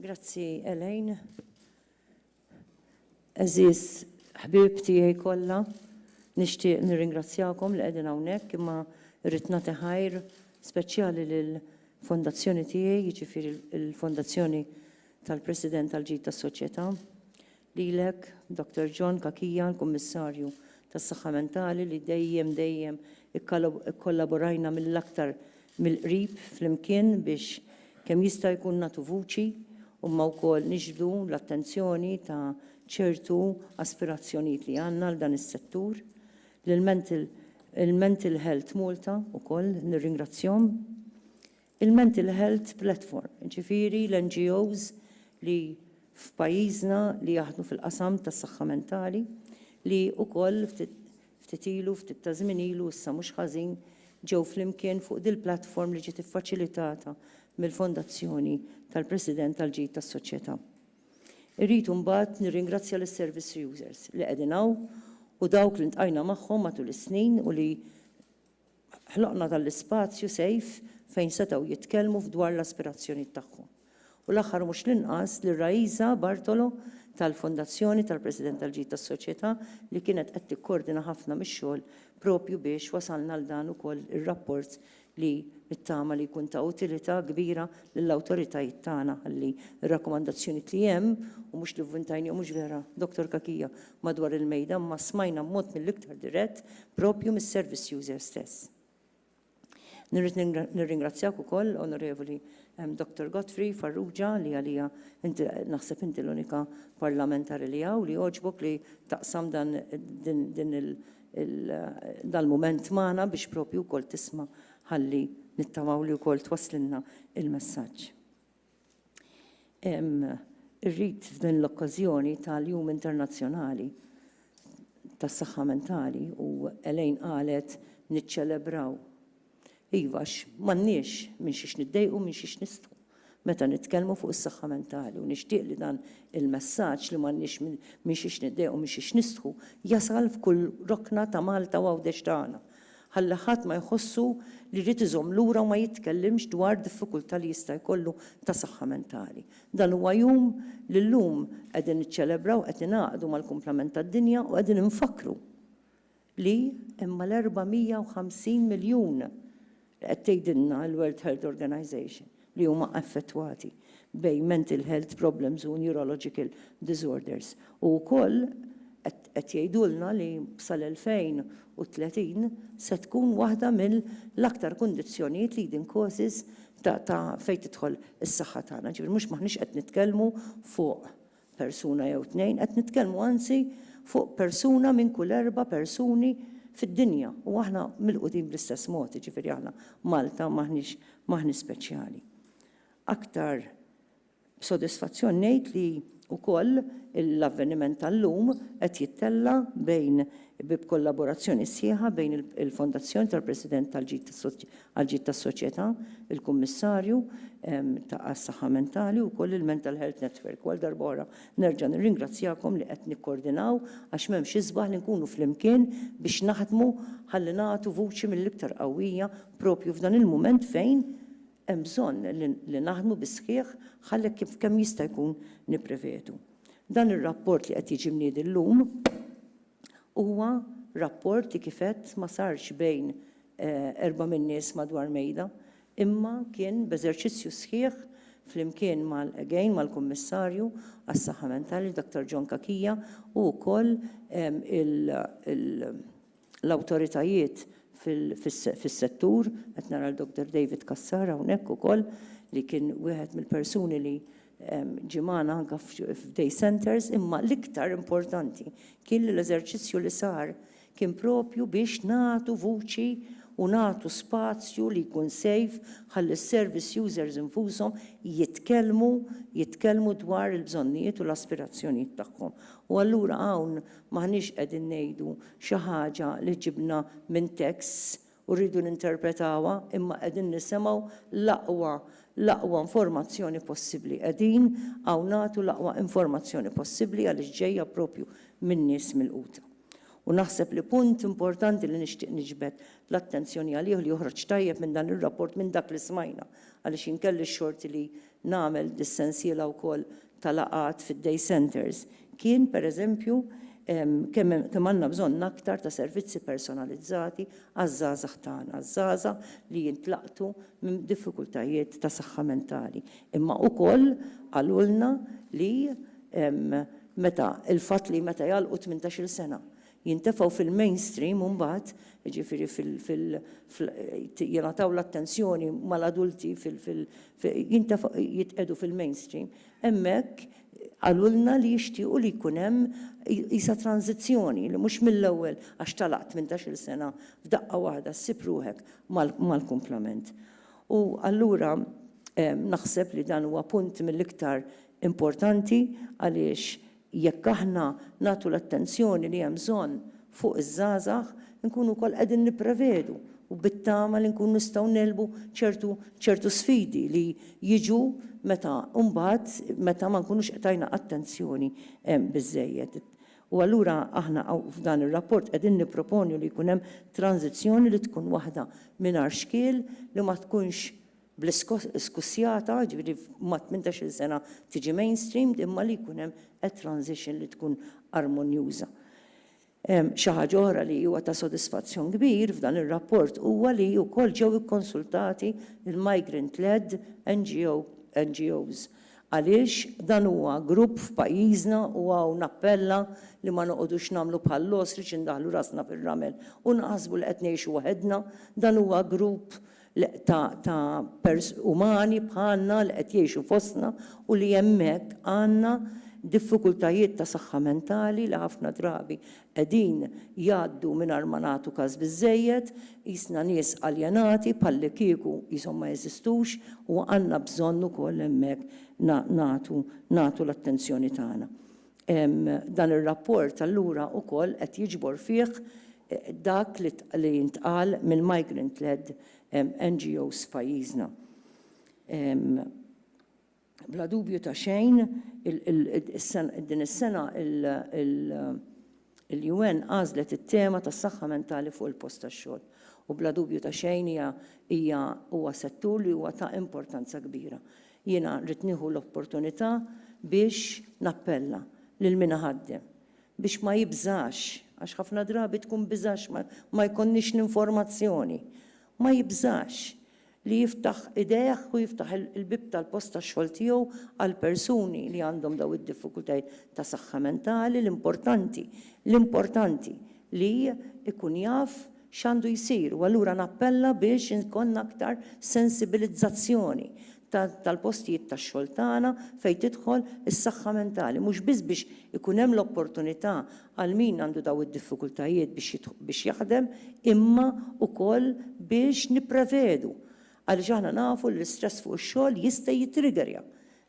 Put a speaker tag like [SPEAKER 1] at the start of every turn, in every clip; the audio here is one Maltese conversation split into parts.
[SPEAKER 1] Grazzi Elaine. Eżis ħbib tiegħi kollha, nixtieq nirringrazzjakom li qegħdin hawnhekk imma rrid nagħti ħajr speċjali lil fondazzjoni tiegħi, jiġifieri l-fondazzjoni tal-President tal-Ġid tas-Soċjetà. lilek, Dottor John Cachia, l-Kummissarju tas-Saħħa Mentali li dejjem, dejjem ikkollaborajna mill-aktar mill-qrib flimkien biex kemm jista' jkun nagħtu vuċi imma wkoll niġbdu l-attenzjoni ta' ċertu aspirazzjonijiet li għandna għal dan is-settur. Lil Mental Health Malta wkoll nirringrazzjahom. Il-Mental Health Platform, jiġifieri l-NGOs li f'pajjiżna li jaħdmu fil-qasam tas-saħħa mentali, li wkoll ftit ilu, ftit ta' żmien ilu issa mhux ħażin, ġew flimkien fuq dil-platform li ġiet iffaċilitata mill-Fondazzjoni tal-President għall-Ġid tas-Soċjetà. Irrid imbagħad nirringrazzja lis-service users li qegħdin hawn u dawk li ltqajna magħhom matul is-snin u li Ħloqna dan l-ispazju sejf fejn setgħu jitkellmu f'dwar l-aspirazzjonijiet tagħhom. U l-aħħar u mhux l-inqas lil Raisa Bartolo tal-Fondazzjoni tal-President tal-Ġid tas-Soċjetà li kienet qed tikkordina ħafna mix-xogħol propju biex wasalna għal dan ukoll ir-rapport li nittama li jkun ta' utilità kbira lill-awtoritajiet tagħna ħalli r-rakkomandazzjonijiet li hemm u mhux li vvintajnihom mhux vera, Dottor Cachia? madwar il-mejda imma smajna b'mod mill-iktar dirett proprju mis-service user stess. Nirrid nirringrazzjak ukoll, Onorevoli Dottor Godfrey Farrugia, li għalija inti naħseb inti l-unika parlamentari li hawn li jogħġbok li taqsam dan din il dal-mument magħna biex proprju wkoll tisma' ħalli nittamaw li wkoll twasslilna il-messaġġ. Irrid f'din l-okkażjoni tal-Jum Internazzjonali tas-Saħħa Mentali u Elaine qalet niċċelebraw. Iva għax m'għandniex minn xiex niddejqu, minn xiex nistgħu meta nitkellmu fuq is-saħħa mentali u nixtieq li dan il-messaġġ li m'għandniex minn xiex niddejqu, minn xiex nistħu jasal f'kull rokna ta' Malta u Għawdex tagħna ħalla ħadd ma jħossu li jrid iżomm lura u ma jitkellimx dwar diffikultà li jista' jkollu ta' saħħa mentali. Dan huwa jum li llum qegħdin niċċelebraw, qed ningħaqdu mal-kumplament tad-dinja u qegħdin infakkru li hemm mal-450 miljun li qed tgħidilna l-World Health Organization. li huma affettwati bejn mental health problems u neurological disorders u wkoll qed jgħidulna li sal-2030 se tkun waħda mill-aktar kundizzjonijiet leading causes ta' fejn tidħol is-saħħa tagħna. Ġifieri mhux m'aħniex qed nitkellmu fuq persuna jew tnejn, qed nitkellmu anzi fuq persuna minn kull erba' persuni fid-dinja u aħna milqudin bl-istess mod, jiġifieri aħna Malta m'aħniex m'aħniex speċjali. Aktar b'sodisfazzjon ngħid li wkoll l-avveniment tal-lum qed jittella' bejn b'kollaborazzjoni sħiħa bejn il-Fondazzjoni tal-President tal-Ġid Għall-ġid tas-soċjetà, il-Kummissarju għas-Saħħa Mentali u wkoll il-Mental Health Network. U għal darb'oħra nerġa' nirringrazzjakom li qed nikkordinaw għax m'hemmx isbaħ li nkunu flimkien biex naħdmu ħalli nagħtu vuċi mill-iktar qawwija proprju f'dan il-mument fejn hemm bżonn li naħdmu bis-sħiħ ħalli kemm jista' jkun nipprevedu. Dan ir-rapport li qed jiġi mniedi llum, Huwa rapport li kif għedt ma sarx bejn erba' min-nies madwar mejda, imma kien b'eżerċizzju sħiħ flimkien mal, again, mal-Kummissarju għas-Saħħa Mentali, Dr. John Cachia, u wkoll l-awtoritajiet fis-settur, qed nara lil Dr. David Cassar hawnhekk ukoll li kien wieħed mill-persuni li ġie magħna anke f'day centres, imma l-iktar importanti kien li l-eżerċizzju li sar kien proprju biex nagħtu vuċi u nagħtu spazju li jkun safe ħalli s-service users infushom jitkellmu jitkellmu dwar il-bżonnijiet u l-aspirazzjonijiet tagħhom. U allura hawn m'aħniex qegħdin ngħidu xi ħaġa li ġibna minn texts u rridu ninterpretawha imma qegħdin nisimgħu l-aqwa l-aqwa informazzjoni possibbli. Qegħdin hawn nagħtu l-aqwa informazzjoni possibbli għaliex ġejja proprju minn nies milquta. U naħseb li punt importanti li nixtieq niġbed l-attenzjoni għalih u li joħroġ tajjeb minn dan ir-rapport minn dak li smajna għaliex jien kelli x-xorti li nagħmel dis-sensiela wkoll ta' laqgħat fid-day centres kien, per eżempju, kemm għandna bżonn aktar ta' servizzi personalizzati għaż-żgħażagħ tagħna, żgħażagħ li jintlaqtu minn diffikultajiet ta' saħħa mentali. Imma ukoll qalulna li meta l-fatt li meta jagħlqu tmintax-il sena Jintefgħu fil-mainstream imbagħad, jiġifieri fil, jingħataw l-attenzjoni mal-adulti fil, jintefgħu, jitqiegħdu fil-mainstream. Hemmhekk qalulna li jixtiequ li jkun hemm qisha tranżizzjoni, li mhux mill-ewwel għax talaqt minn tax-il sena f'daqqa waħda ssib ruħek mal-kumplament. U allura naħseb li dan huwa punt mill-iktar importanti għaliex Jekk aħna nagħtu l-attenzjoni li hemm bżonn fuq iż-żgħażagħ, inkunu wkoll qegħdin nipprevedu u bit-tama li nkunu nistgħu ngħelbu ċertu ċertu sfidi li jiġu meta mbagħad meta ma nkunux qed tajna attenzjoni biżżejjed. U allura aħna f'dan ir-rapport qegħdin nipproponu li jkun hemm tranżizzjoni li tkun waħda mingħajr xkiel li ma tkunx bl-iskussjata, jiġifieri ma' tmintax-il sena tiġi mainstreamed imma li jkun hemm a transition li tkun armonjuża. Xi ħaġa oħra li huwa ta' sodisfazzjon kbir f'dan ir-rapport huwa li wkoll ġew ikkonsultati l-migrant-led NGO, NGOs. Għaliex dan huwa grupp f'pajjiżna u hawn nappella li ma noqogħdux nagħmlu bħall-ostrich indaħħlu rasna fir-ramel u naħsbu li qed ngħixu waħedna, dan huwa grupp l-qtgħa ta' pers umani bħalna li qed jgħixu fostna u li hemmhekk għandna diffikultajiet ta' saħħa mentali li ħafna drabi qegħdin jgħaddu mingħajr ma nagħtu kas biżżejjed, qisna nies aljenati bħallikieku qishom ma jeżistux u għandna bżonn ukoll hemmhekk na nagħtu nagħtu l-attenzjoni tagħna. Dan ir-rapport allura wkoll qed jiġbor fih dak li ntqal mill-migrant-led NGOs f'pajjiżna. Bla dubju ta' xejn, din is-sena il, Il-UN għażlet it-tema tas-saħħa mentali fuq il-post tax-xogħol u bla dubju ta' xejn hija hija huwa settur li huwa ta' importanza kbira. Jiena rrid nieħu l-opportunità biex nappella lil min iħaddem biex ma jibżax, għax ħafna drabi tkun biża' għax ma jkollniex l-informazzjoni, ma jibżax li jiftaħ idejh u jiftaħ il-bieb tal-post tax-xogħol tiegħu għal persuni li għandhom dawn id-diffikultajiet ta' saħħa mentali, l-importanti, l-importanti li jkun jaf x'għandu jsir u allura nappella biex ikollna aktar sensibilizzazzjoni tal-postijiet tax-xogħol tagħna fejn tidħol is-saħħa mentali, mhux biss biex ikun hemm l-opportunità għal min għandu dawn id-diffikultajiet biex jaħdem imma wkoll biex nipprevedu għaliex aħna nafu li l-istress fuq ix-xogħol jista' jittrigerja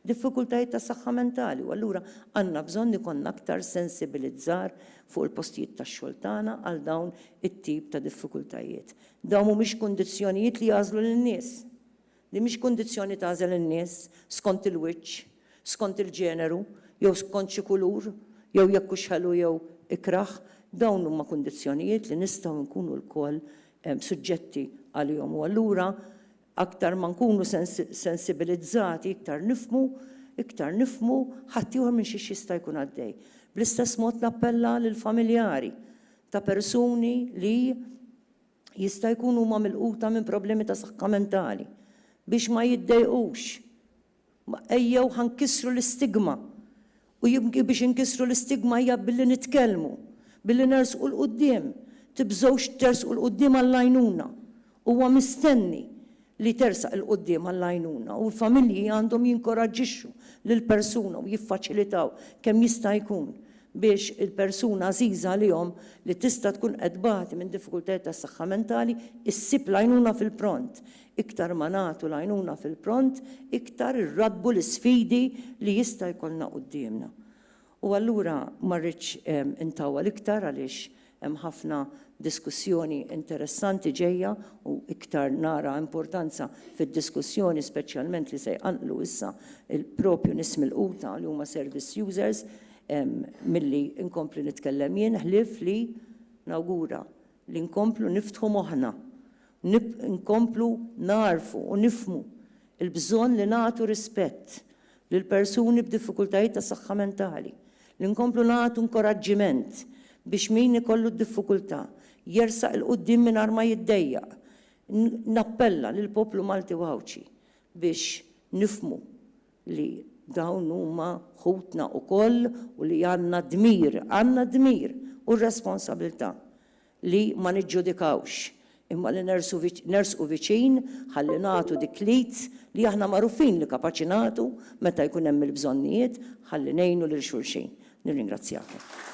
[SPEAKER 1] diffikultajiet ta' saħħa mentali u allura għandna bżonn ikollna aktar sensibilizzar fuq il-postijiet tax-xogħol tagħna għal dawn it-tip ta' diffikultajiet. Dawn mhumiex kundizzjonijiet li jagħżlu lin-nies. Din mhix kundizzjoni tagħżel in-nies skont il-wiċċ, skont il-ġeneru, jew skont xi kulur, jew jekk hux ħelu jew ikrah. Dawn huma kundizzjonijiet li nistgħu nkunu lkoll suġġetti għalihom u allura aktar ma nkunu sensibilizzati iktar nifhmu, iktar nifhmu ħaddieħor minn xiex jista' jkun għaddej. Bl-istess mod nappella lill-familjari ta' persuni li Jista' jkun huma milquta minn problemi ta' saħħa mentali. Biex ma jiddejqux, ejjew ħa nkissru l-istigma. U biex inkissru l-istigma hija billi nitkellmu, billi nersqu 'l quddiem. Tibżgħux tersqu 'l quddiem għall-għajnuna. Huwa mistenni li tersaq 'il quddiem għall-għajnuna u l-familji għandhom jinkoraġġixxu lill-persuna u jiffaċilitaw kemm jista' jkun biex il-persuna għażiża għalihom li tista' tkun qed tbati minn diffikultajiet tas-saħħa mentali ssib l-għajnuna fil-pront. Iktar ma nagħtu l-għajnuna fil-pront, iktar irraddbu l-isfidi li jista' jkollna quddiemna. U allura ma rridx intawwal iktar għaliex hemm ħafna diskussjoni interessanti ġejja u iktar nara importanza fid-diskussjoni speċjalment li se jqanqlu issa proprju nies milquta li huma service users milli nkompli nitkellem jien ħlief li nawgura Li nkomplu niftħu moħħna, nkomplu nagħrfu u nifhmu l-bżonn li nagħtu rispett lil persuni b'diffikultajiet ta' saħħa mentali, li nkomplu nagħtu inkoraġġiment biex min ikollu d-diffikultà jersaq 'il quddiem mingħajr ma jiddejjaq. Nappella lill-poplu Malti u Għawdxi biex nifhmu li dawn huma ħutna wkoll u li għandna d-dmir, għandna d-dmir u r-responsabilità li ma niġġudikawx, imma li nersqu nersqu viċin ħalli nagħtu dik l-id li aħna magħrufin li kapaċi nagħtu meta jkun hemm il-bżonnijiet ħalli ngħinu lil xulxin. Nirringrazzjakom.